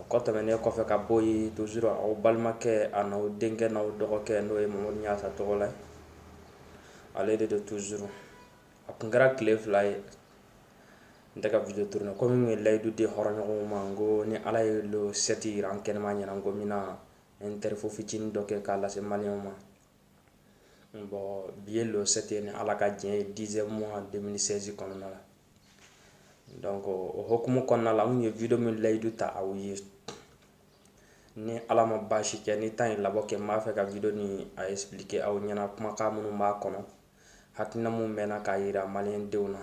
O kɔ tɛmɛnen kɔfɛ ka bɔ yen toujours aw balimakɛ a n'aw denkɛ n'aw dɔgɔkɛ n'o ye mamadu ɲasa tɔgɔla ale de don toujours a kun kɛra tile fila ye n tɛ ka video tourner komi n ye layidu di hɔrɔnɲɔgɔnw ma ko ni ala ye le sept yira an kɛnɛma ɲɛna ko n bɛna interview fitinin dɔ kɛ k'a lase maliyɛnw ma bon bi ye le sept ye ni ala ka diɲɛ ye dixième mois deux mille seize kɔnɔna la donc o hokumu kɔnɔna la n ye video min layidu ta aw ye ni ala ma baasi kɛ ni temps ye labɔ kɛ n b'a fɛ ka video ni a expliquer aw ɲɛna kumakan minnu b'a kɔnɔ hakilina mun bɛna k'a yira maliyɛndenw na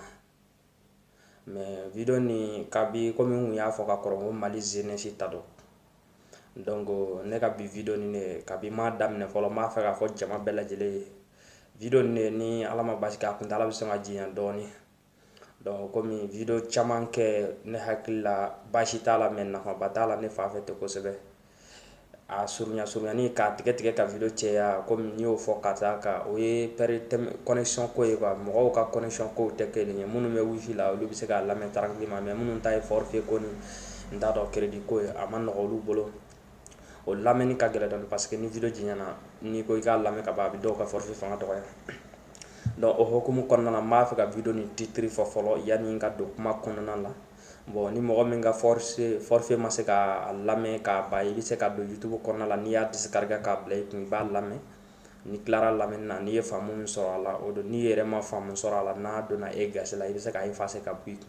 mais video ni kabi komi n kun y'a fɔ ka kɔrɔ ko mali jeunesse ta don donc ne ka bi video ni ne kabi m'a daminɛ fɔlɔ n b'a fɛ k'a fɔ jama bɛɛ lajɛlen ye video ni ne ni ala ma baasi kɛ a kuntala bɛ sɔn ka janya dɔɔni donc komi video caman kɛ ne hakili la baasi t'a la mais nafaba t'a la ne t'a fɛ ten kosɛbɛ a surunya surunyani k'a tigɛ tigɛ ka video cɛya komi n y'o fɔ ka taa ka o ye pɛri connexion ko ye quoi mɔgɔw ka connexion kow tɛ kelen ye minnu bɛ wifi la olu bɛ se k'a lamɛn tranquillement mais minnu ta ye forfait ko ni n t'a dɔn crédit ko ye a ma nɔgɔ olu bolo o lamɛnni ka gɛlɛn dɔɔni parce que ni video janyana n'i ko i k'a lamɛn ka ban a bɛ dɔw ka forfait fanga dɔgɔya donc o hokumu kɔnɔna na n b'a fɛ ka video ni titre fɔ fɔlɔ yanni n ka don kuma kɔnɔna la bon ni mɔgɔ min ka forfait forfait ma se ka a lamɛn k'a ban i bɛ se ka don youtube kɔnɔna la n'i y'a discarga k'a bila i kun i b'a lamɛn n'i tilara lamɛnni na n'i ye faamu min sɔrɔ a la o don n'i yɛrɛ ma faamu sɔrɔ a la n'a donna e gasi la i bɛ se k'a effacer ka bɔ i kun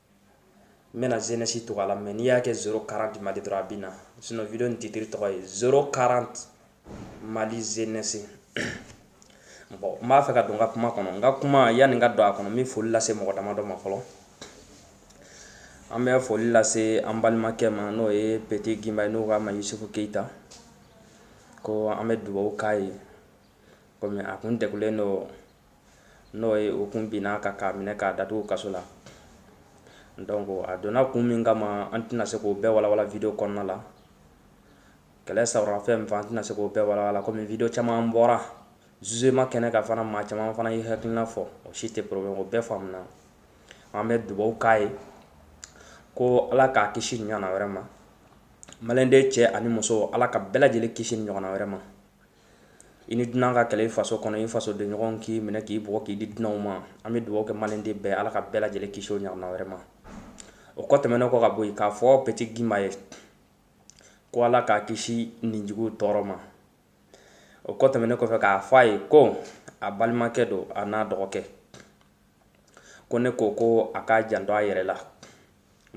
n bɛna jeunesse tɔgɔ la mais n'i y'a kɛ zéro quarante mali dɔrɔn a bɛ na sinon video ni titre tɔgɔ ye zéro quarante mali jeunesse bon n b'a fɛ ka don n ka kuma kɔnɔ n ka kuma yanni n ka don a kɔnɔ n bɛ foli lase mɔgɔ damadɔ ma fɔlɔ an bɛ foli lase an balimakɛ ma n'o ye petit gimba ye n'u k'a ma yusufu keyita ko an bɛ dubabu k'a ye komi a kun degulen don n'o ye o kun binna a kan k'a minɛ k'a datugu kaso la donc a donna kun min kama an tɛna se k'o bɛɛ walawala video kɔnɔna la kɛlɛ sawura fɛn min fɛ an tɛna se k'o bɛɛ walawala komi video caman bɔra jugement kɛnɛ kan fana maa caman fana ye hakilina fɔ o si tɛ problème o bɛɛ faamuna an bɛ dubaw k'a ye ko ala k'a kisi ɲɔgɔnna wɛrɛ ma maliyɛnden cɛ ani muso ala ka bɛɛ lajɛlen kisi ɲɔgɔnna wɛrɛ ma i ni dunan ka kɛlɛ i faso kɔnɔ i fasodenɲɔgɔn k'i minɛ k'i bugɔ k'i di dunanw ma an bɛ dugawu kɛ maliyɛnden bɛɛ ala ka bɛɛ lajɛlen kisi o ɲɔgɔnna wɛrɛ ma o kɔ tɛmɛnen kɔ ka bɔ yen k'a fɔ petit gimba ye ko ala k'a kisi ninjugu tɔɔrɔ ma o kɔ tɛmɛnen kɔfɛ k'a fɔ a ye ko a balimakɛ don a n'a dɔgɔkɛ ko ne ko ko a k'a janto a yɛrɛ la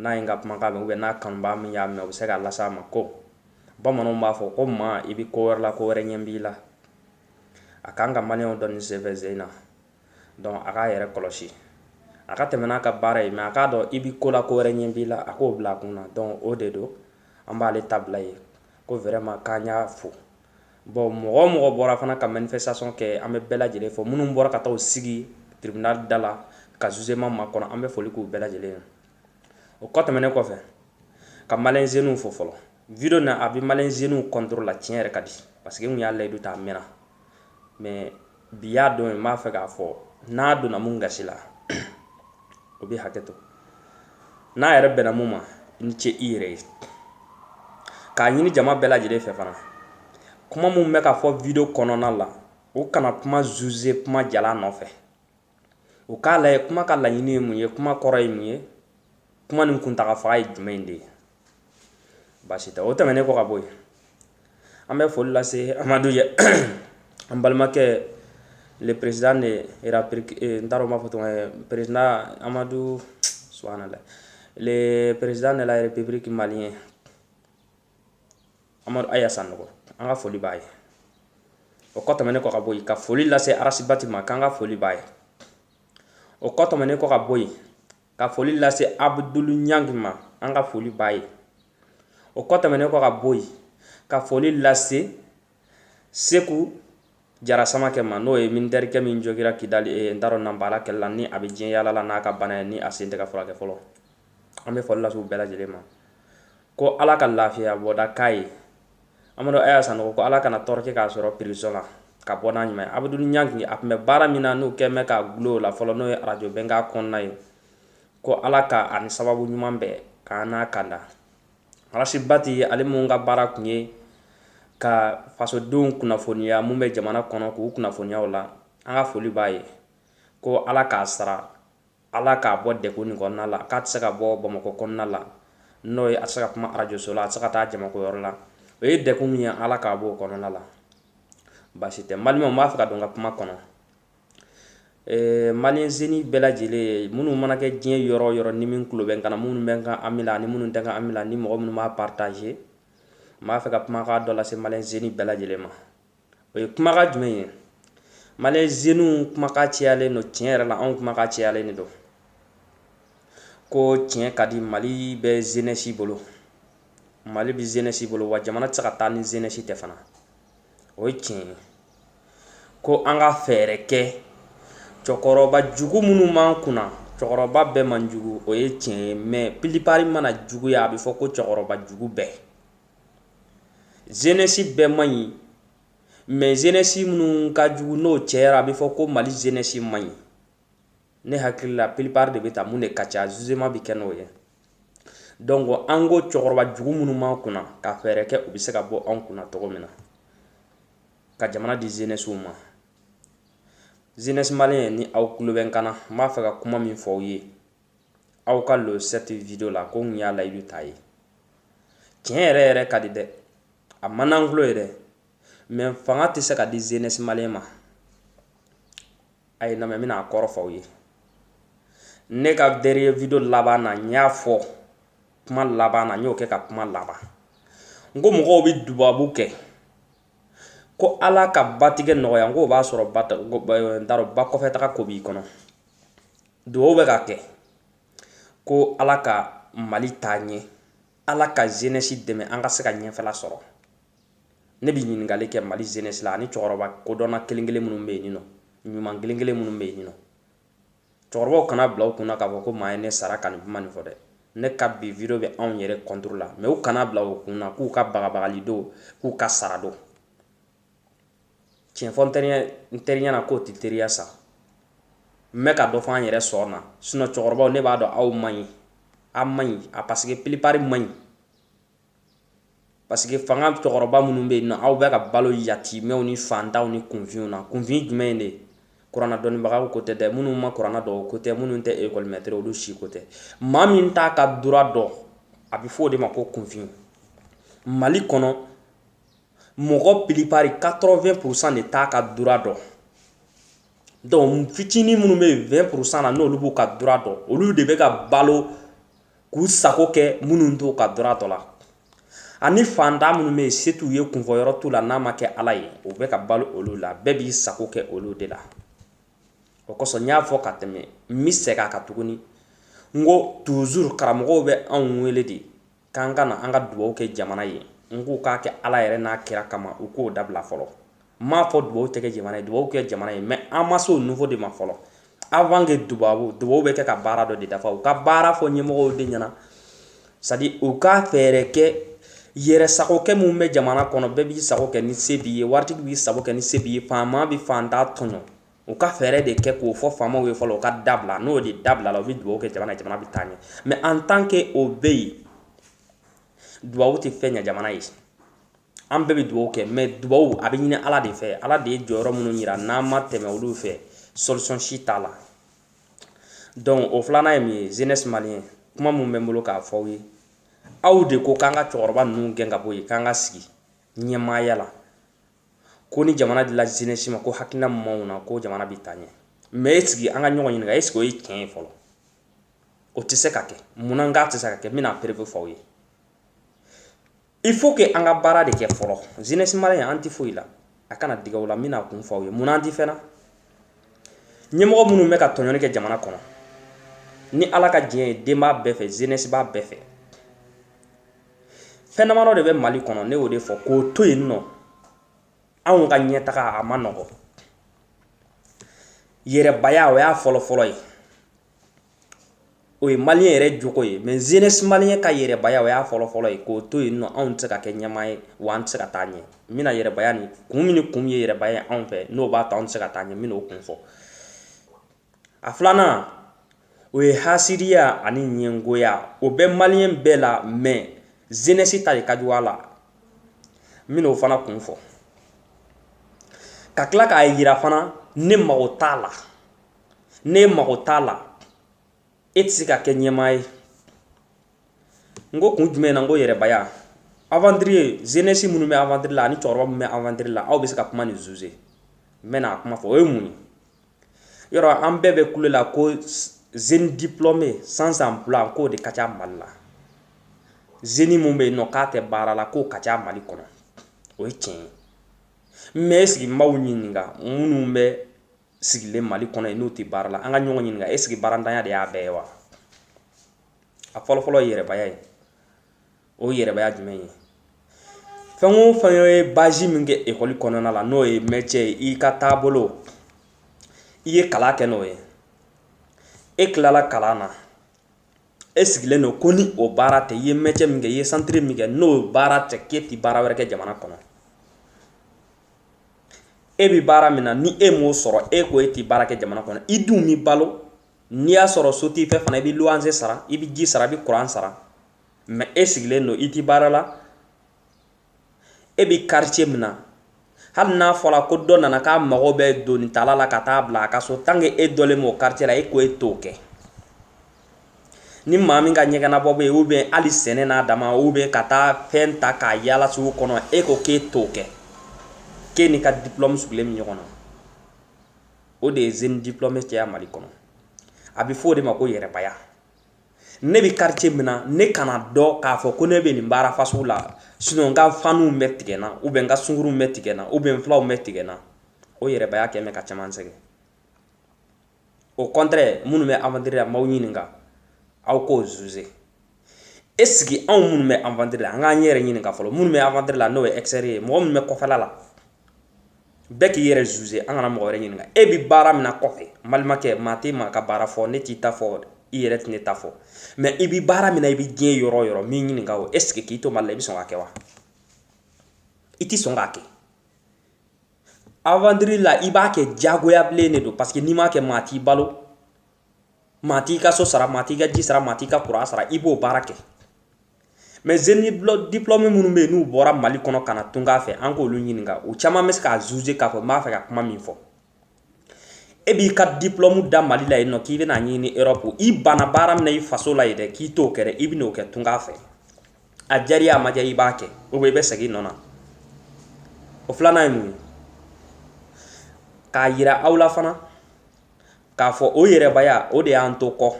n'a ye n ka kumakan mɛn ou bien n'a kanubaa min y'a mɛn o bɛ se k'a las'a ma ko bamananw b'a fɔ ko maa i bɛ ko wɛrɛ la ko wɛrɛ ɲɛ b'i la a kan ka maliyɛnw dɔn ni senfɛ zen na donc a k'a yɛrɛ kɔlɔsi a ka tɛmɛ n'a ka baara ye mais a k'a dɔn i bɛ ko la ko wɛrɛ ɲɛ b'i la a k'o bila a kun na donc o de don an b'ale ta bila yen ko vraiment k'an y'a fo bon mɔgɔ o mɔgɔ bɔra fana ka manifestation kɛ an bɛ bɛɛ lajɛlen fo minnu bɔra ka taa u sigi tribunal da la ka jugement makɔnɔ an bɛ foli k'u bɛɛ lajɛlen ye o kɔ tɛmɛnen kɔfɛ ka maliyɛn zeniw fo fɔlɔ video na a bɛ maliyɛn zeniw contrôle la tiɲɛ yɛrɛ ka di parce que n y'a layidu ta a mɛnna mais bi y'a don ye n b'a fɛ k'a fɔ n'a donna mun gasi la o bɛ hakɛ to n'a yɛrɛ bɛnna mun ma i ni ce i yɛrɛ ye k'a ɲini jama bɛɛ lajɛlen fɛ fana kuma mun bɛ ka fɔ video kɔnɔna la o kana kuma zuze kuma jalan nɔfɛ o k'a lajɛ kuma ka laɲini ye mun ye kuma kɔrɔ ye mun ye kuma nin kuntaga fan ye jumɛn de ye baasi tɛ o tɛmɛnen kɔ ka bɔ yen an bɛ foli lase amadu yɛ an balimakɛ le président de era eh, n t'a dɔn n b'a fɔ tɔgɔ ye président amadu subhanallah le président de la république malien amadu aya sanɔgɔ an ka foli b'a ye o kɔ tɛmɛnen kɔ ka bɔ yen ka foli lase arasibati ma k'an ka foli b'a ye o kɔ tɛmɛnen kɔ ka bɔ yen ka foli lase abudulu ɲangi ma an ka foli b'a ye o kɔ tɛmɛnen kɔ ka bɔ yen ka foli lase seku jara samakɛ ma n'o ye militɛrikɛ min jogira kidali eh, n t'a dɔn nanbala kɛlɛ la ni a bɛ diɲɛ yaala la n'a ka bana ye ni a sen tɛ ka furakɛ fɔlɔ an bɛ foli lase u bɛɛ lajɛlen ma ko ala ka lafiya bɔda k'a ye amadu aya sanɔgɔ ko ala kana tɔɔrɔ kɛ k'a sɔrɔ prison la ka bɔ n'a ɲuman abudu ɲangi a tun bɛ baara min na n'u kɛlen bɛ k'a dulon o la fɔlɔ n'o ye arajo bɛnkan kɔnɔna ye ko ala k'a ni sababu ɲuman bɛn k'an n'a kanda arasibati ale mun ka baara kun ye ka fasodenw kunnafoniya mun bɛ jamana kɔnɔ k'u kunnafoniya o la an ka foli b'a ye ko ala k'a sara Ala k'a bɔ degun nin kɔnɔna la k'a tɛ se ka bɔ bamakɔ kɔnɔna la n'o ye a tɛ se ka kuma arajoso la a tɛ se ka taa jamakoyɔrɔ la o ye degun min ye ala k'a bɔ o kɔnɔna la baasi tɛ maliyɛnw n b'a fɛ ka don n ka kuma kɔnɔ maliyɛn zeni bɛɛ lajɛlen minnu mana kɛ diɲɛ yɔrɔ o yɔrɔ ni min tulo bɛ n kan na minnu bɛ n ka ami la ani minnu tɛ n ka ami la ni mɔgɔ minnu b'a pataze n b'a fɛ ka kumakan dɔ lase maliyɛn zeni bɛɛ lajɛlen ma o ye kumakan jumɛn ye maliyɛn zeniw kumakan cayalen don tiɲɛ yɛrɛ la anw kumakan cayalen de don ko tiɲɛ ka di mali bɛ zenɛsi bolo mali bɛ zenɛsi bolo wa jamana tɛ se ka taa ni zenɛsi tɛ fana o ye tiɲɛ ye ko an ka fɛɛrɛ kɛ cɛkɔrɔba jugu minnu b'an kunna cɛkɔrɔba bɛɛ man jugu o ye tiɲɛ ye mɛ pilipari mana juguya a bɛ fɔ ko cɛkɔrɔba jugu bɛɛ zenɛsi bɛɛ man ɲi mɛ zenɛsi minnu ka jugu n'o cɛyara a bɛ fɔ ko mali zenɛsi man ɲi ne hakili la pilipari de bɛ ta mun de ka ca zuzema bɛ kɛ n'o ye donc an ko cɛkɔrɔba jugu minnu b'an kunna ka fɛɛrɛ kɛ u bɛ se ka bɔ an kunna cogo min na ka jamana di zenɛsiw ma zenɛsi maliyɛn ni aw kulo bɛ n kan na n b'a fɛ ka kuma min fɔ aw ye aw ka lo sɛti video la ko n y'a layidu t'a ye tiɲɛ yɛrɛ yɛrɛ ka di dɛ a man d'an kulo ye dɛ mɛ fanga tɛ se ka di zenɛsi maliyɛn ma a ye lamɛn n bɛna a kɔrɔ fɔ aw ye ne ka dɛriniye video laban na n y'a fɔ kuma laban na n y'o kɛ ka kuma laban n ko mɔgɔw bɛ dubabu kɛ ko ala ka batigɛ nɔgɔya n k'o b'a sɔrɔ n t'a dɔn ba kɔfɛ taga ko b'i kɔnɔ dugaw bɛ ka kɛ ko ala ka mali taa ɲɛ ala ka zenɛsi dɛmɛ an ka se ka ɲɛfɛla sɔrɔ ne bɛ ɲininkali kɛ mali zenɛsi la ani cɛkɔrɔba kodɔnna kelen kelen minnu bɛ yen nɔ ɲuman kelen kelen minnu bɛ yen nɔ cɛkɔrɔbaw kan'a bila u kunna k'a fɔ ko maa ye ne sara ka nin kuma nin fɔ dɛ ne ka bi video bɛ anw yɛrɛ kɔntoro la mɛ u kan'a bila u kunna k'u ka bagabagali don k'u ka sara don tiɲɛfɔ n teriya na k'o tɛ teriya sa n bɛ ka dɔ fɔ an yɛrɛ sɔn na sinɔn cɛkɔrɔbaw ne b'a dɔn aw man ɲi aw man ɲi a paseke pilipari man ɲi paseke fanga cɛkɔrɔba minnu bɛ yen nɔ aw bɛ ka balo yatimɛw ni fantanw ni kunfinw na kunfin jumɛn in de ye kuranna dɔnnibagaw ko tɛ dɛ minnu ma kuranna dɔn o ko tɛ minnu tɛ ekɔlimɛtiri olu si ko tɛ maa min t'a ka dura dɔn a bɛ fɔ o de ma ko kunfin mali kɔnɔ mɔgɔ pilipari 80 pourcent de t'a ka dura dɔn donc fitinin minnu bɛ yen 20 pourcent na n'olu b'u ka dura dɔn olu de bɛ ka balo k'u sago kɛ minnu t'u ka dura dɔn la ani fantan minnu bɛ yen se t'u ye kunfɔyɔrɔ t'u la n'a ma kɛ ala ye u bɛ ka balo olu la bɛɛ b'i sago kɛ olu de la o kosɔn n y'a fɔ ka tɛmɛ n bɛ segin a kan tuguni n ko toujours karamɔgɔw bɛ anw wele de k'an ka na an ka dubaw kɛ jamana ye n k'u k'a kɛ ala yɛrɛ n'a kira kama u k'o dabila fɔlɔ n m'a fɔ dubaw tɛ kɛ jamana ye dubaw kɛ jamana ye mais an ma se o niveau de ma fɔlɔ avant que dubabu dubaw bɛ kɛ ka baara dɔ de dafa u ka baara fɔ ɲɛmɔgɔw de ɲɛna c'est-à-dire u ka fɛɛrɛ kɛ yɛrɛ sagokɛ min bɛ jamana kɔnɔ bɛɛ b'i sago kɛ ni se b'i ye waritigi b'i sago kɛ ni se b'i ye faama bɛ faanta tɔɲɔ u ka fɛɛrɛ de kɛ k'o fɔ faamaw ye fɔlɔ u k'a dabila n'o de dabilala u bɛ dugawu kɛ jamana ye jamana bɛ taa ɲɛ mais en tant que o bɛ yen dubabu tɛ fɛn ɲɛ jamana ye an bɛɛ bɛ dugawu kɛ mais dubabu a bɛ ɲini ala de fɛ ala de ye jɔyɔrɔ minnu jira n'an ma tɛmɛ olu fɛ solution si t'a la donc o filanan ye min ye jeunesse malien kuma min bɛ n bolo k'a fɔ aw ye aw de ko k'an ka cɛkɔrɔba ninnu gɛn ka bɔ yen k'an ka sigi ɲɛmaaya la ko ni jamana dila jeunesse ma ko hakilina min b'aw na ko jamana bɛ taa ɲɛ mais est-ce que an ka ɲɔgɔn ɲininka est-ce que o ye tiɲɛ ye fɔlɔ o tɛ se ka kɛ munna a tɛ se ka kɛ n bɛna preuve fɔ aw ye il faut que an ka baara de kɛ fɔlɔ jeunesse malien an tɛ foyi la a kana digi aw la n bɛn'a kun fɔ aw ye munna an tɛ fɛn na ɲɛmɔgɔ minnu bɛ ka tɔɲɔni kɛ jamana kɔnɔ ni ala ka diɲɛ ye den b'a bɛɛ fɛ jeunesse b'a bɛɛ fɛ fɛn damadɔ de bɛ mali kɔnɔ ne y'o de fɔ k'o to yen nɔ anw ka ɲɛtaga a ma nɔgɔ yɛrɛbaya o y'a fɔlɔfɔlɔ ye o ye malien yɛrɛ jogo ye mais jeunesse malien ka yɛrɛbaya o y'a fɔlɔfɔlɔ ye k'o to yen nɔ anw tɛ se ka kɛ ɲɛmaa ye wa an tɛ se ka taa ɲɛ n bɛna yɛrɛbaya ni kun min ni kun ye yɛrɛbaya ye anw fɛ n'o b'a to anw tɛ se ka taa ɲɛ n bɛna o kun fɔ a filanan o ye hasidiya ani ɲɛngoya o bɛ malien bɛɛ la mais jeunesse ta de ka jugu a la n bɛna o fana kun fɔ ka tila k'a yira fana ne mago t'a la ne mago t'a la e tɛ se ka kɛ ɲɛmaa ye n ko kun jumɛn na n ko yɛrɛbaya aventurier jeunesse minnu bɛ aventure la ani cɛkɔrɔba minnu bɛ aventure la aw bɛ se ka kuma nin juger n bɛna a kuma fɔ o ye mun ye yɔrɔ an bɛɛ bɛ kule la ko jeune diplômé sans emploi k'o de ka ca mali la jeune min bɛ yen nɔ k'a tɛ baara la k'o ka ca mali kɔnɔ o ye tiɲɛ ye mais est-ce que n b'aw ɲininka minnu bɛ sigilen mali kɔnɔ yen n'u tɛ baara la an ka ɲɔgɔn ɲininka est-ce que baarantanya de y'a bɛɛ ye wa a fɔlɔfɔlɔ ye yɛrɛbaya ye o ye yɛrɛbaya jumɛn ye fɛn o fɛn ye baasi min kɛ ekɔli kɔnɔna la n'o ye métier ye i ka taabolo i ye kalan kɛ n'o ye e tilala kalan na e sigilen don ko ni o baara tɛ i ye métier min kɛ i ye centre min kɛ n'o baara tɛ k'e ti baara wɛrɛ kɛ jamana kɔnɔ e bɛ baara min na ni e m'o sɔrɔ e ko e ti baara kɛ jamana kɔnɔ i dun b'i balo n'i y'a sɔrɔ so t'i fɛ fana i bɛ luwanse sara i bɛ ji sara i bɛ kuran sara mais e sigilen don i tɛ baara la e bɛ quartier min na hali n'a fɔra ko dɔ nana k'a mago bɛ doni tala la ka taa bila a ka so tant que e dɔnnen b'o quartier la e ko e t'o kɛ ni maa min ka ɲɛgɛnabɔ bɛ yen ou bien hali sɛnɛ n'a dama ou bien ka taa fɛn ta k'a yaala sugu kɔnɔ e ko k'e t'o kɛ k'e n'i ka diplôme sigilen bɛ ɲɔgɔn na o de ye jeune diplômé caya mali kɔnɔ a bɛ fɔ o de ma ko yɛrɛbaya ne bɛ quartier min na ne kana dɔn k'a fɔ ko ne bɛ nin baara fasugu la sinon n ka faniw bɛ tigɛ n na ou bien n ka sungurunw bɛ tigɛ n na ou bien n filanw bɛ tigɛ n na o yɛrɛbaya kɛ bɛ ka caman sɛgɛn au contraire minnu bɛ aventure la n b'aw ɲininka aw k'o juger est-ce que anw minnu bɛ aventure la an k'an yɛrɛ ɲininka fɔlɔ minnu bɛ aventure la n'o ye extérieur ye mɔgɔ minnu bɛ kɔfɛla la bɛɛ k'i yɛrɛ juger an kana mɔgɔ wɛrɛ ɲininka e bi baara min na kɔfɛ n balimakɛ maa tɛ maa ka baara fɔ ne t'i ta fɔ i yɛrɛ tɛ ne ta fɔ mais i bi baara min na i bi diɲɛ yɔrɔ o yɔrɔ n b'i ɲininka o est-ce que k'i to mali la i bi sɔn k'a kɛ wa i ti sɔn k'a kɛ aventure la i b'a kɛ jagoya bilen de don parce que n'i m'a kɛ maa t'i balo maa t'i ka so sara maa t'i ka ji sara maa t'i ka kuran sara i b'o baara kɛ mais jeune diplômé minnu bɛ yen n'u bɔra mali kɔnɔ ka na tunga fɛ an k'olu ɲininka u caman bɛ se k'a juger k'a fɔ n b'a fɛ ka kuma min fɔ e b'i ka diplôme da mali la yen nɔ k'i bɛna ɲini erɔpu i banna baara min na i faso la yen dɛ k'i t'o kɛ dɛ i bɛn'o kɛ tunga fɛ a diyara i ye a ma diya i b'a kɛ ou bien i bɛ segin i nɔ na o filanan ye mun ye k'a yira aw la fana k'a fɔ o yɛrɛbaya o de y'an to kɔ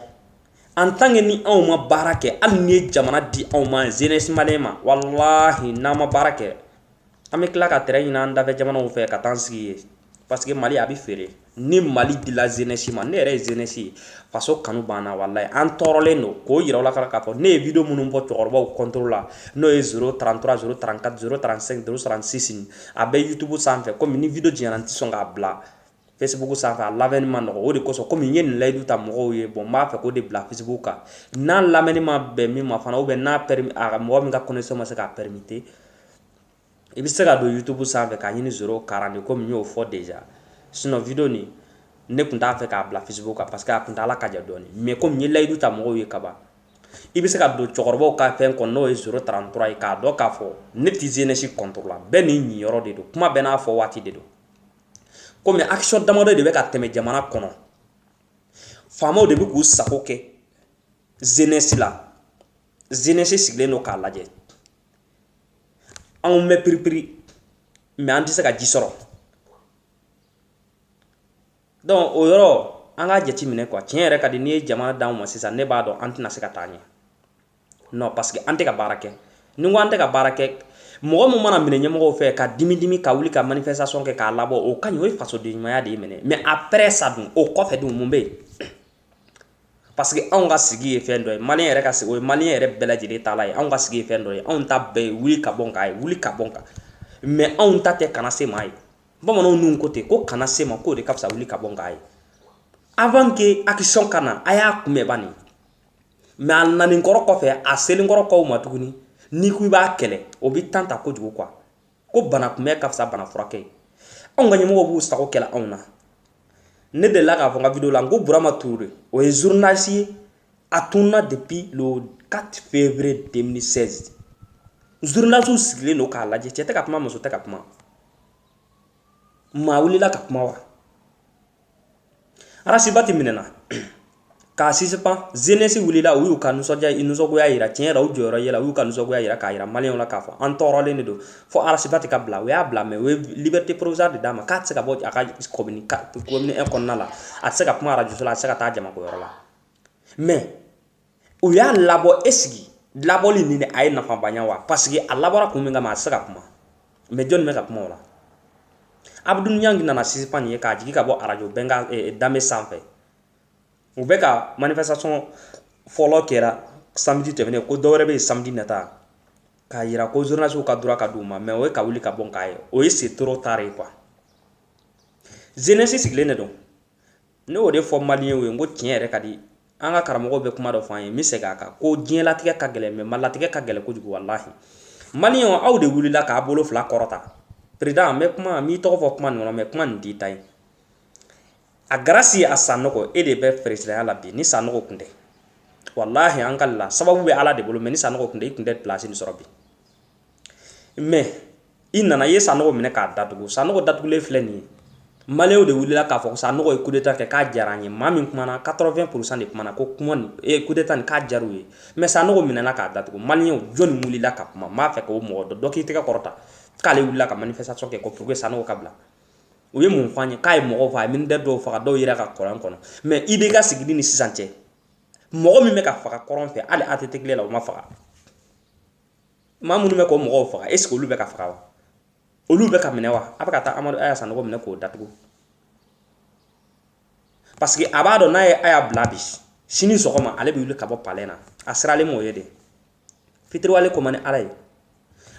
en tant que ni anw ma baara kɛ hali n'i ye jamana di anw ma jeunesse malien ma walahi n'an ma baara kɛ an bɛ tila ka terrain ɲini an dafɛ jamanaw fɛ ka taa sigi yen parce que mali a bɛ feere ni mali dila jeunesse ma ne yɛrɛ ye jeunesse ye faso kanu banna walayi an tɔɔrɔlen don k'o yira aw la k'a fɔ ne ye video minnu bɔ cɛkɔrɔbaw contre la n'o ye 033 034 035 036 a bɛ youtube sanfɛ komi ni video janyara n tɛ sɔn k'a bila Facebook sanfɛ a lamɛnni ma nɔgɔ o de kosɔn komi n ye nin layidu ta mɔgɔw ye bon n b'a fɛ k'o de bila Facebook kan n'a lamɛnni ma bɛn min ma fana ou bien n'a permis a mɔgɔ min ka connexion ma se k'a permettre i bɛ se ka don YouTube sanfɛ k'a ɲini 040 komi n y'o fɔ déjà sinon video nin ne tun t'a fɛ k'a bila Facebook kan parce que a kuntaala ka jan dɔɔni mais komi n ye layidu ta mɔgɔw ye kaban i bɛ se ka don cɛkɔrɔbaw ka fɛn kɔnɔ n'o ye 033 ye k'a dɔn k'a fɔ ne tɛ jeunesse contre la bɛɛ n'i ɲiyɔrɔ de don kuma bɛɛ n'a fɔ waati de don komi action damadɔ de bɛ ka tɛmɛ jamana kɔnɔ faamaw de bɛ k'u sago kɛ jeunesse la jeunesse sigilen don k'a lajɛ anw bɛ piripiri mais an tɛ se ka ji sɔrɔ donc o yɔrɔ an k'a jateminɛ quoi tiɲɛ yɛrɛ ka di n'i ye jamana d'anw ma sisan ne b'a dɔn an tɛna se ka taa ɲɛ non parce que an tɛ ka baara kɛ ni n ko an tɛ ka baara kɛ mɔgɔ min mana minɛ ɲɛmɔgɔw fɛ ka dimi dimi ka wuli ka manifestation kɛ k'a labɔ o ka ɲi o ye fasoden ɲumanya de ye minɛ mais après ça dun o kɔfɛ dun mun bɛ yen parce que anw ka sigi ye fɛn dɔ ye maliyɛn yɛrɛ ka sigi o ye maliyɛn yɛrɛ bɛɛ lajɛlen taala ye anw ka sigi ye fɛn dɔ ye anw ta bɛɛ ye wuli ka bɔ n kan ye wuli ka bɔ n kan mais anw ta tɛ kana se n ma ye bamananw nun ko ten ko kana se n ma k'o de ka fisa wuli ka bɔ n kan ye avant que action ka na a y'a kunbɛn bani mais a nanin kɔrɔ kɔfɛ a selen kɔrɔ kɔw ma tuguni n'i ko i b'a kɛlɛ o bɛ temps ta kojugu quoi ko bana kunbɛn ka fisa bana furakɛ ye anw ka ɲɛmɔgɔw b'u sago kɛ la anw na ne delila k'a fɔ n ka vidéo la n ko burama touré o ye journaliste ye a tunna depuis le 4 février 2016 journalistes sigilen don k'a lajɛ cɛ tɛ ka kuma muso tɛ ka kuma maa wulila ka kuma wa arasibati minɛna k'a suspend jeunesse wulila u y'u ka nisɔndiya nisɔngoya yira tiɲɛ yɛrɛ u jɔyɔrɔ yera u y'u ka nisɔngoya yira k'a yira maliyɛnw la k'a fɔ an tɔɔrɔlen de don fo arasibati ka bila u y'a bila mais u ye liberté provisoire de d'a ma k'a tɛ se ka bɔ a ka commune commune 1 kɔnɔna la a tɛ se ka kuma arajo la a tɛ se ka taa jamako yɔrɔ la mais u y'a labɔ est ce que labɔli nin a ye nafaba ɲa wa parce que a labɔra kun min kama a tɛ se ka kuma mais jɔnni bɛ ka kuma o la abdou niang nana suspend nin ye k'a jigin ka bɔ arajo bɛnkan eh, danbe sanfɛ u bɛ ka manifestation fɔlɔ kɛra samedi tɛmɛnen ko dɔwɛrɛ bɛ yen samedi nata k'a yira ko journalistes ka droit ka d'u ma mais o ye ka wuli ka bɔ n kan ye o ye c'est trop tard ye quoi jeunesse sigilen de don ne y'o de fɔ maliyɛnw ye n ko tiɲɛ yɛrɛ ka di an ka karamɔgɔw bɛ kuma dɔ fɔ an ye n bɛ segin a kan ko diɲɛlatigɛ ka gɛlɛn mais maalatigɛ ka gɛlɛn kojugu walahi maliyɛnw aw de wulila k'a bolo fila kɔrɔta président n bɛ kuma n b'i tɔgɔ fɔ kuma nin kɔnɔ mais kuma nin t'i ta ye a grâce à sanɔgɔ e de bɛ peresidanya la bi ni sanɔgɔ kun tɛ walahi an ka la sababu bɛ ala de bolo mais ni sanɔgɔ kun tɛ i kun tɛ place nin sɔrɔ bi mais i nana i ye sanɔgɔ minɛ k'a datugu sanɔgɔ datugulen filɛ nin ye maliyɛnw de wulila k'a fɔ sanɔgɔ ye kudeta kɛ k'a diyara an ye maa min kumana 80 pourcent de kumana ko kuma nin e kudeta nin k'a diyar'u ye mais sanɔgɔ minɛna k'a datugu maliyɛnw jɔni wulila ka kuma n b'a fɛ k'o mɔgɔ dɔ dɔ k'i tɛgɛ kɔrɔta k'ale wulila ka manifestation kɛ ko pour que sanɔgɔ ka bila u ye mun fɔ an ye k'a ye mɔgɔw faga a ye militaire dɔw faga dɔw yera ka kɔlɔn kɔnɔ mais IBK sigili ni sisan cɛ mɔgɔ min bɛ ka faga kɔrɔn fɛ hali ATT tile la o ma faga maa minnu bɛ k'o mɔgɔw faga est ce que olu bɛ ka faga wa olu bɛ ka minɛ wa a bɛ ka taa amadu aya sanogo minɛ k'o datugu parce que a b'a dɔn n'a ye aya bila bi sini sɔgɔma ale bɛ wuli ka bɔ palais na a siralen b'o ɲɛ de fitiriwale ko man di ala ye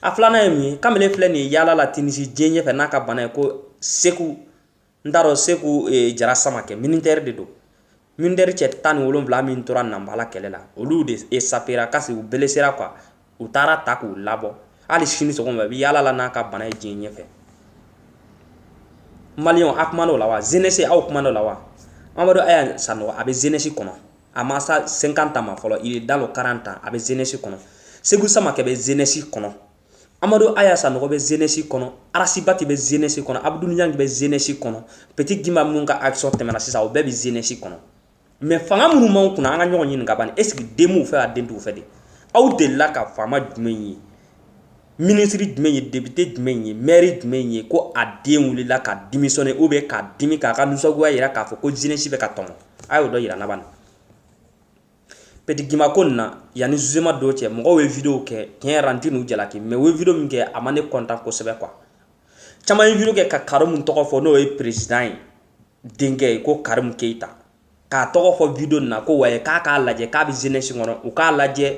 a filanan ye mun ye kamalen filɛ nin ye yaala la tinisi diɲɛ ɲɛfɛ n'a ka bana ye ko seku n t'a dɔn seku e, jara samakɛ militɛri de don militɛri cɛ tan ni wolonwula min tora nanbala kɛlɛ la olu de esapera kasi u belesera kuwa u taara ta k'u labɔ hali sini sɔgɔma bi yaala la n'a ka bana ye diɲɛ ɲɛfɛ maliyɛnw a kuman'o la wa zenesi aw kuman'o la wa amadu aya sanɔgɔ a bɛ zenesi kɔnɔ a ma sa 50 ans ma fɔlɔ il est dans le 40 ans a bɛ zenesi kɔnɔ seku samakɛ bɛ zenesi kɔnɔ amadu aya sanɔgɔ bɛ zenesi kɔnɔ arasibati bɛ zenesi kɔnɔ abudu niyangi bɛ zenesi kɔnɔ peti gima minnu ka action tɛmɛna sisan o bɛɛ bɛ zenesi kɔnɔ mɛ fanga minnu b'anw kunna an ka ɲɔgɔn ɲininka ban esiki den b'u fɛ a den t'u fɛ de aw delila ka faama jumɛn ye minisiri jumɛn ye depite jumɛn ye mɛri jumɛn ye ko a den wulila ka dimisɔne ou bien ka dimi k'a ka nisɔngoya yira k'a fɔ ko zenesi bɛ ka tɔɲɔ a y'o dɔ yira n na ban peti gima ko nin na yanni zuzeman don cɛ mɔgɔw ye video kɛ tiɲɛ yɛrɛ la n tɛ n'u jalaki mɛ u ye video min kɛ a ma ne kɔntan kosɛbɛ kuwa caman ye video kɛ ka karimu tɔgɔ fɔ n'o ye perezidan ye denkɛ ye ko karimu keyita k'a tɔgɔ fɔ video nin na ko wayi k'a k'a lajɛ k'a bɛ zenesi kɔnɔ u k'a lajɛ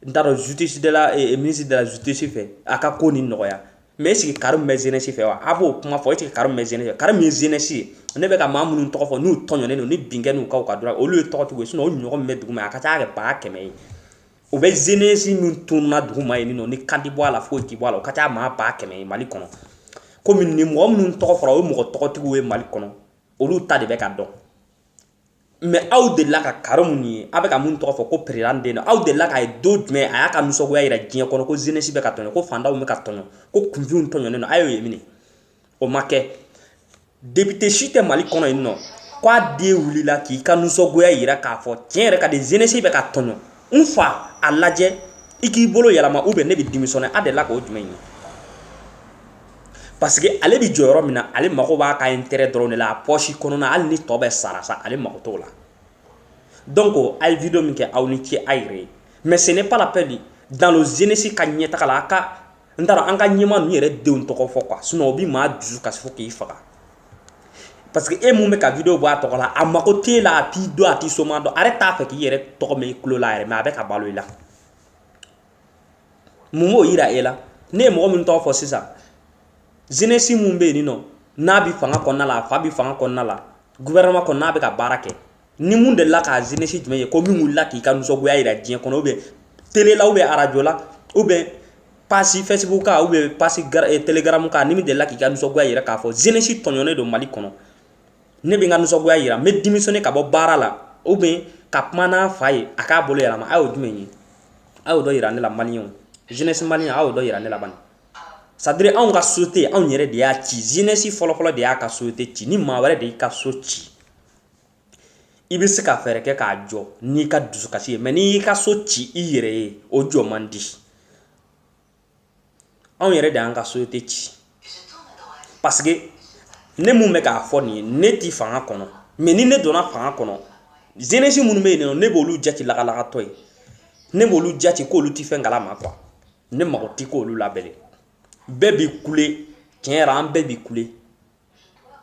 n t'a dɔn justice de la eh, ministre de la justice fɛ a ka ko nin nɔgɔya mɛ est-ce que karimu bɛ jeunesse fɛ wa a b'o kuma fɔ est-ce que karimu bɛ jeunesse fɛ karimu ye jeunesse ye ne bɛ ka maa minnu tɔgɔ fɔ n'u tɔɲɔnen don ni binkɛ n'u kan dɔrɔn olu ye tɔgɔtigiw ye sinɔn o ɲɔgɔn min bɛ dugu ma a ka ca kɛ baa kɛmɛ ye o bɛ jeunesse min tununa dugu ma yen nɔ ni kan ti bɔ a la foyi ti bɔ a la o ka ca maa baa kɛmɛ ye mali kɔnɔ komi nin mɔgɔ minnu tɔgɔ fɔra o ye mɔgɔ tɔgɔtigiw ye mali kɔnɔ olu ta de bɛ ka dɔn mɛ aw delila ka karimu nin ye a bɛ ka min tɔgɔ fɔ ko perezidan den aw delila k'a ye don jumɛn a y'a ka nisɔngoya jira diɲɛ kɔnɔ ko zenesi bɛ ka tɔɲɔ ko fantanw bɛ ka tɔɲɔ ko kunfinw tɔɲɔnen don a y'o ye min o ma kɛ depite si tɛ mali kɔnɔ yen nɔ k'a den wulila k'i ka nisɔngoya jira k'a fɔ tiɲɛ yɛrɛ ka di zenesi bɛ ka tɔɲɔ n fa a lajɛ i k'i bolo yɛlɛma ou bien ne bɛ dimisɔne a delila k'o jumɛn ye parce que ale bɛ jɔyɔrɔ min na ale mago b'a ka intérêt dɔrɔn de la a poche kɔnɔna hali ni tɔ bɛɛ sara sa ale mago t'o la donc a ye video min kɛ aw ni ce a yɛrɛ ye mais ce n'est pas la peine dans le jeunesse ka ɲɛtaga la a ka n t'a dɔn an ka ɲɛmaa ninnu yɛrɛ denw tɔgɔ fɔ quoi sinon o bɛ maa dusu kasi fo k'i faga parce que e min bɛ ka video bɔ a tɔgɔ la a mago t'e la a t'i dɔn a t'i somaa dɔn a yɛrɛ t'a fɛ k'i yɛrɛ tɔgɔ mɛn i tulo la yɛrɛ mais a bɛ ka balo i la mun b'o yira e la ne ye mɔgɔ min tɔgɔ fɔ sisan zenesi min bɛ yen nɔ n'a bɛ fanga kɔnɔna la a fa bɛ fanga kɔnɔna la gouvernement kɔnɔ n'a bɛ ka baara kɛ ni min delila k'a zenesi jumɛn ye ko min wulila k'i ka nisɔngoya jira diɲɛ kɔnɔ ou bien télé la ou bien arajo la ou bien page facebook kan ou bien page eh, telegram kan ni min delila k'i ka nisɔngoya jira k'a fɔ zenesi tɔɲɔnen don mali kɔnɔ ne bɛ n ka nisɔngoya yira n bɛ démissionner ka bɔ baara la ou bien ka kuma n'a fa ye a k'a bolo yɛlɛma a y'o jumɛn ye a y'o dɔ yira ne la maliyɛnw jeunesse maliyɛn a y'o dɔ yira ne la bani c'est à dire anw ka société anw yɛrɛ de y'a ci jeunesse fɔlɔfɔlɔ de y'a ka société ci ni maa wɛrɛ de y'i ka so ci i bɛ se ka fɛɛrɛ kɛ k'a jɔ n'i ka dusukasi ye mais n'i y'i ka so ci i yɛrɛ ye o jɔ man di anw yɛrɛ de y'an ka société ci parce que ne mun bɛ k'a fɔ nin ye ne ti fanga kɔnɔ mais ni ne donna fanga kɔnɔ jeunesse minnu bɛ yen nɔ ne b'olu jati lagalagatɔ ye ne b'olu jati k'olu ti fɛn kalama quoi ne mago ti k'olu la bilen bɛɛ bi kule tiɲɛ yɛrɛ an bɛɛ bi kule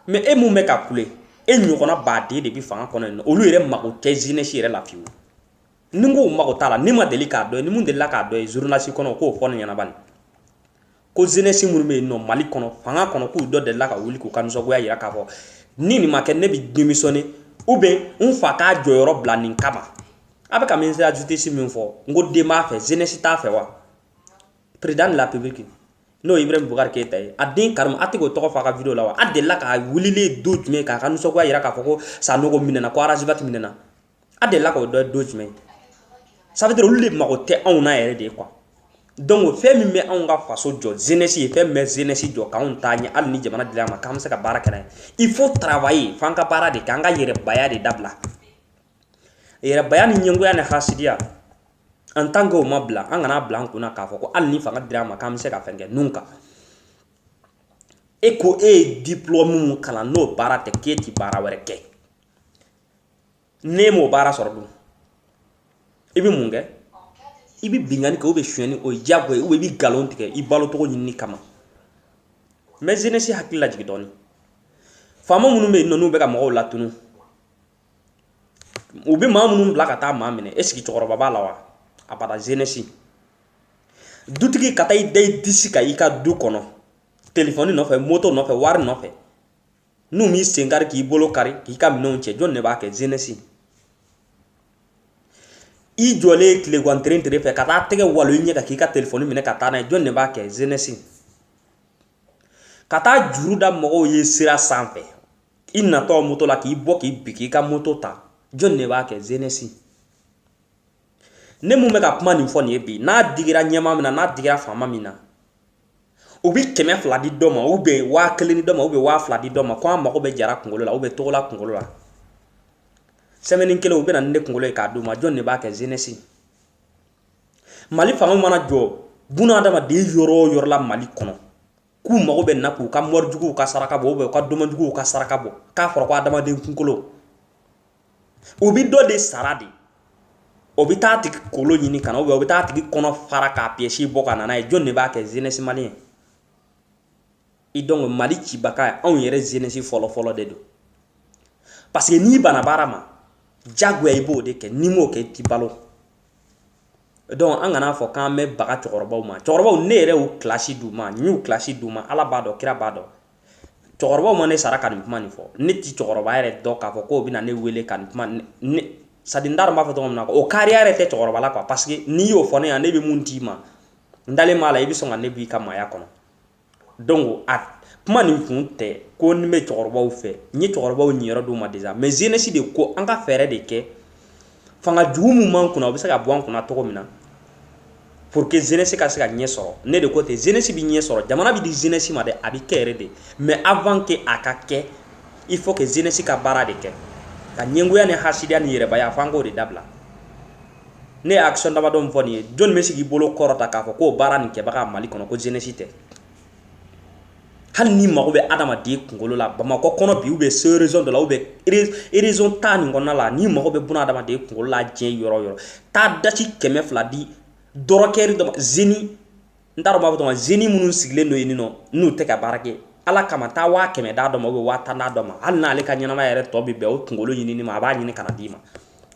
mais e mun bɛ ka kule e ɲɔgɔnna baden de bɛ fanga kɔnɔ yen nɔ olu yɛrɛ mago tɛ jeunesse yɛrɛ la fiyewu ni n k'u mago t'a la ne ma deli k'a dɔ ye ni mun delila k'a dɔ ye journaliste kɔnɔ k'o fɔ ne ɲɛna bani ko jeunesse minnu bɛ yen nɔ mali kɔnɔ fanga kɔnɔ k'u dɔ delila ka wuli k'u ka nisɔngoya yira k'a fɔ ni nin ma kɛ ne bɛ démissionner ou bien n fa k'a jɔyɔrɔ bila nin kama a bɛ ka ministère de la justice min fɔ n ko den b'a fɛ jeunesse t'a fɛ wa président de la république n'o ye ibrahim boubacar keïta ye a den karimu a tɛ k'o tɔgɔ fɔ a ka vidéo la wa a delila k'a wulilen don jumɛn k'a ka nisɔngoya yira k'a fɔ ko sanogo minɛna ko ras bath minɛna a delila k'o dɔ don jumɛn ça veut dire olu de mago tɛ anw na yɛrɛ de quoi donc fɛn min bɛ anw ka faso jɔ jeunesse ye fɛn min bɛ jeunesse jɔ k'anw taa ɲɛ hali ni jamana dil'a ma k'an bɛ se ka baara kɛ n'a ye il faut travailler f'an ka baara de kɛ an ka yɛrɛbaya de dabila yɛrɛbaya ni ɲɛngoya ni hasidiya en tant que o ma bila an kan'a bila an kunna k'a fɔ ko hali ni fanga dira an ma k'an bɛ se ka fɛn kɛ nun kan e ko e ye diplôme mun kalan n'o baara tɛ k'e ti baara wɛrɛ kɛ n'e m'o baara sɔrɔ dun i bɛ mun kɛ i bɛ binkanni kɛ ou bien sonyɛni o ye diyagoya ye i bɛ nkalon tigɛ i balo cogo ɲinini kama n bɛ jeunesse hakili lajigin dɔɔni faama minnu bɛ yen nɔ n'u bɛ ka mɔgɔw latunu u bɛ maa minnu bila ka taa maa minɛ est-ce que cɛkɔrɔba b'a la wa abada jeunesse dutigi ka taa i da i disi kan i ka du kɔnɔ telefɔni nɔfɛ moto nɔfɛ wari nɔfɛ n'u m'i sen kari k'i bolo kari k'i ka minɛnw cɛ jɔn de b'a kɛ jeunesse i jɔlen tilegan teren tere fɛ ka taa tɛgɛ walo i ɲɛ kan k'i ka telefɔni minɛ ka taa n'a ye jɔn de b'a kɛ jeunesse ka taa juru da mɔgɔw ye sira sanfɛ i natɔ moto la k'i bɔ k'i bin k'i ka moto ta jɔn de b'a kɛ jeunesse ne mun bɛ ka kuma nin fɔ nin ye bi n'a digira ɲɛmaa min na n'a digira faama min na u bɛ kɛmɛ fila di dɔ ma u bɛ waa kelen di dɔ ma u bɛ waa fila di dɔ ma ko an mago bɛ jara kunkolo la ou bien togola kunkolo la semaine kelen u bɛ na ni ne kunkolo ye k'a d'u ma jɔn de b'a kɛ jeunesse mali fanga mana jɔ buna adamaden yɔrɔ o yɔrɔ la mali kɔnɔ k'u mago bɛ na k'u ka mɔrijuguw ka saraka bɔ ou bien u ka domajuguw ka saraka bɔ k'a fɔra ko adamaden kunkolo u bɛ dɔ de sara de o bɛ taa tigi kolo ɲini ka na o bɛ taa tigi kɔnɔ fara k'a pièce bɔ ka na n'a ye jɔn de b'a kɛ jeunesse malienne donc mali cibaga ye anw yɛrɛ jeunesse fɔlɔfɔlɔ de don parce que n'i banna baara ma jagoya i b'o de kɛ n'i m'o kɛ i ti balo donc an kana fɔ k'an bɛ baga cɛkɔrɔbaw ma cɛkɔrɔbaw ne yɛrɛ y'u kilasi d'u ma n y'u kilasi d'u ma ala b'a dɔn kira b'a dɔn cɛkɔrɔbaw ma ne sara ka nin kuma nin fɔ ne ti cɛkɔrɔba yɛrɛ dɔn k'a fɔ k'o bɛna ne wele ka nin kuma nin sara di n t'a dɔn n b'a fɔ cogo min na o kariya yɛrɛ tɛ cɛkɔrɔba la quoi parce que n'i y'o fɔ ne ɲɛna ne bɛ mun d'i ma n dalen b'a la i bɛ sɔn ka ne b'i ka maaya kɔnɔ donc a kuma nin kun tɛ ko ne bɛ cɛkɔrɔbaw fɛ n ye cɛkɔrɔbaw ɲiyɔrɔ d'u ma déjà mais jeunesse de ko an ka fɛɛrɛ de kɛ fanga jugu min b'an kunna o bɛ se ka bɔ an kunna cogo min na pour que jeunesse ka se ka ɲɛ sɔrɔ ne de ko ten jeunesse bɛ ɲɛ sɔrɔ jamana bɛ di jeunesse ma dɛ a bɛ kɛ yɛrɛ de mais avant que a ka kɛ il faut que jeunesse ka baara de kɛ ka ɲɛngoya ni hasidiya ni yɛrɛbaya f'an k'o de dabila ne ye action damadɔ min fɔ nin ye jɔn bɛ se k'i bolo kɔrɔta k'a fɔ k'o baara nin kɛbaga Mali kɔnɔ ko jeunesse tɛ hali n'i mago bɛ adamaden kunkolo la bamakɔ kɔnɔ bi ou bien se région dɔ la ou bien région tan nin kɔnɔna la n'i mago bɛ buna adamaden kunkolo la diɲɛ yɔrɔ o yɔrɔ taa dati kɛmɛ fila di dɔrɔkɛri dɔ ma jeune n t'a dɔn n b'a fɔ cogo jeune minnu sigilen don yen nɔ n'u tɛ ka baara kɛ ala kama taa waa kɛmɛ d'a dɔ ma ou bien waa tan d'a dɔ ma hali n'ale ka ɲɛnamaya yɛrɛ tɔ bɛ bɛn o kunkolo ɲinini ma a b'a ɲini ka na d'i ma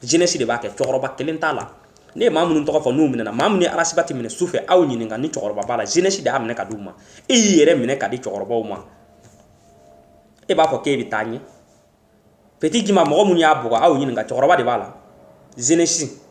jeunesse de b'a kɛ cɛkɔrɔba kelen t'a la ne ye maa minnu tɔgɔ fɔ n'u minɛna maa minnu ye ras bath minɛ su fɛ aw ɲininka ni cɛkɔrɔba b'a la jeunesse de y'a minɛ ka di u ma e y'i yɛrɛ minɛ ka di cɛkɔrɔbaw ma e b'a fɔ k'e bɛ taa ɲɛ petit guimba mɔgɔ minnu y'a bugɔ aw ɲininka cɛkɔrɔba de b'a la jeunesse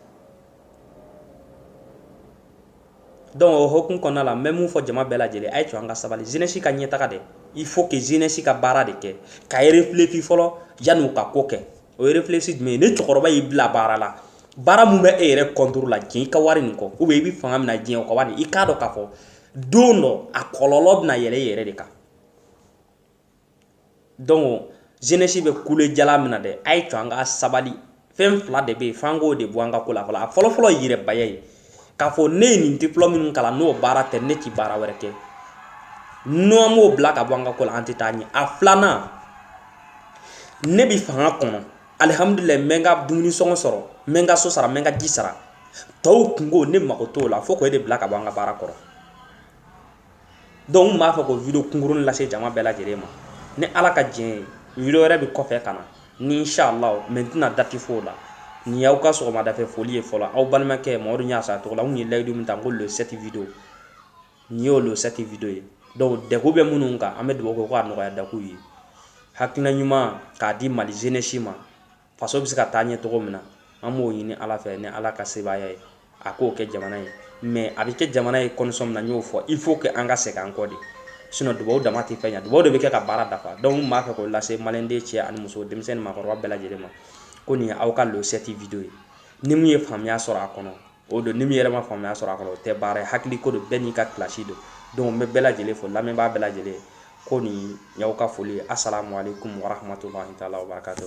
donc o hokumu kɔnɔna la n bɛ mun fɔ jama bɛɛ lajɛlen a y'a to an ka sabali jeunesse ka ɲɛtaga dɛ il faut que jeunesse ka baara de kɛ ka réfléchir fɔlɔ yanni u ka ko kɛ o ye réfléchir jumɛn ye ni cɛkɔrɔba y'i bila baara la baara min bɛ e yɛrɛ contre la diɲɛ i ka wari nin kɔ ou bien i bɛ fanga min na diɲɛ o kɔ bari i k'a dɔn k'a fɔ don dɔ a kɔlɔlɔ bɛna yɛlɛ i yɛrɛ de kan donc jeunesse bɛ kule jalan min na dɛ a y'a to an ka sabali fɛn fila de bɛ yen f'an k'o de bɔ an ka ko la fɔlɔ a fɔlɔfɔlɔ ye yɛrɛbaya ye k'a fɔ ne ye nin diplɔmu min kalan n'o baara tɛ ne tɛ baara wɛrɛ kɛ n'an m'o bila ka bɔ an ka ko la an tɛ taa ɲɛ a filanan ne bɛ fanga kɔnɔ alihamudulila n bɛ n ka dumuni sɔngɔ sɔrɔ n bɛ n ka so sara n bɛ n ka ji sara tɔw kungo ne mago t'o la fo k'o de bila ka bɔ an ka baara kɔrɔ donc n b'a fɛ k'o video kunkuruni lase jama bɛɛ lajɛlen ma ni ala ka diɲɛ ye video wɛrɛ bɛ kɔfɛ ka na ni inshallah mais n tɛna date fɔ la nin y'aw ka sɔgɔmadafɛ foli ye fɔlɔ aw balimakɛ mamadu ɲasa tɔgɔ la n kun ye layidu min ta n ko le 7 video nin y'o le 7 video ye donc dɛgun bɛ minnu kan an bɛ dugawu kɛ ko a nɔgɔya da k'u ye hakilina ɲuman k'a di mali jeunesse ma faso bɛ se ka taa ɲɛ cogo min na an b'o ɲini ala fɛ ni ala ka sebaaya ye a k'o kɛ jamana ye mais a bɛ kɛ jamana ye condition min na n y'o fɔ il faut que an ka segin an kɔ de sinon dubabu dama tɛ fɛn ɲa dubabu de bɛ kɛ ka baara dafa donc n b'a fɛ k'o lase maliden cɛ ani muso denmisɛn ni makɔrɔba bɛɛ lajɛlen ma ko nin aw ka le 7 video ye ni min ye faamuya sɔrɔ a kɔnɔ o don ni min yɛrɛ ma faamuya sɔrɔ a kɔnɔ o tɛ baara ye hakili ko don bɛɛ n'i ka kilasi don donc n bɛ bɛɛ lajɛlen fo lamɛnbaa bɛɛ lajɛlen ko nin y'aw ka foli ye asalamualeykum warahmatulahi taala wabarakatu